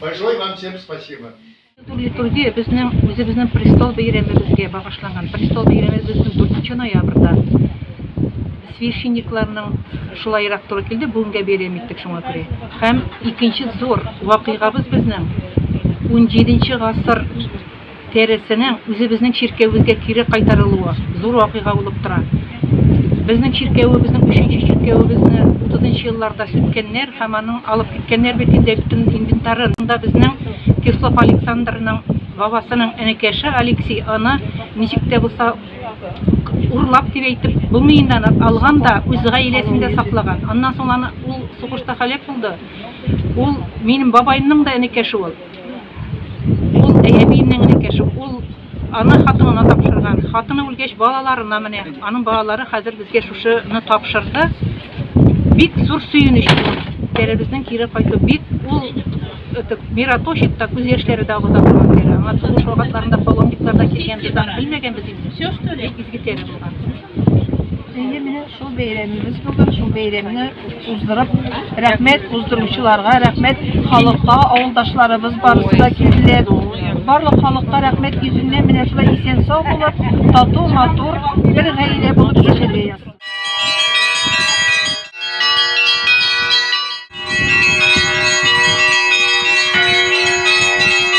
Большое вам всем спасибо. Литургия безнең үзебезнең престол бәйрәмебезгә багышланган. Престол бәйрәме безнең 4 ноябрьдә священникларның шулайрак туры килде, бүгенгә бәйрәм иттек шуңа күрә. Һәм икенче зур вакыйгабыз безнең 17 гасыр тәрәзәсенең үзебезнең чиркәвебезгә кире кайтарылуы зур вакыйга булып тора. Безнең чиркәвебезнең өченче чиркәвебезне утызынчы елларда сүткәннәр һәм аның алып киткәннәр бит инде бөтен инвентарын. Шунда безнең Кислов Александрның бабасының энекәше Алексей аны ничек тә булса урлап дип әйтеп булмый инде аны, алган да үз гаиләсендә саклаган. Аннан соң аны ул сугышта һәлак булды. Ул минем бабаемның да энекәше ул. Ул әйәбиеннең энекәше, ул ана хатынына тапшырган. Хатыны үлгәч, балаларына менә, аның балалары хәзер безгә шушыны тапшырды. Бик зур сөенеч ул. Тәребезнең кире кайту бик ул этот мираточек та күз яшьләре дә агыза торган тәре. Аңа сугыш вакытларында паломниклар да килгән, без аны белмәгәнбез инде. Все что ли? Бик изге тәре булган. Әйе, менә шул бәйрәмебез бүген, шул бәйрәмне уздырып, рәхмәт уздыручыларга, рәхмәт халыкка, авылдашларыбыз барысы да килделәр. Барлык халыкка рәхмәт йөзеннән менә шулай исән сау булып, тату, матур, бер гаилә булып яшәргә язсын.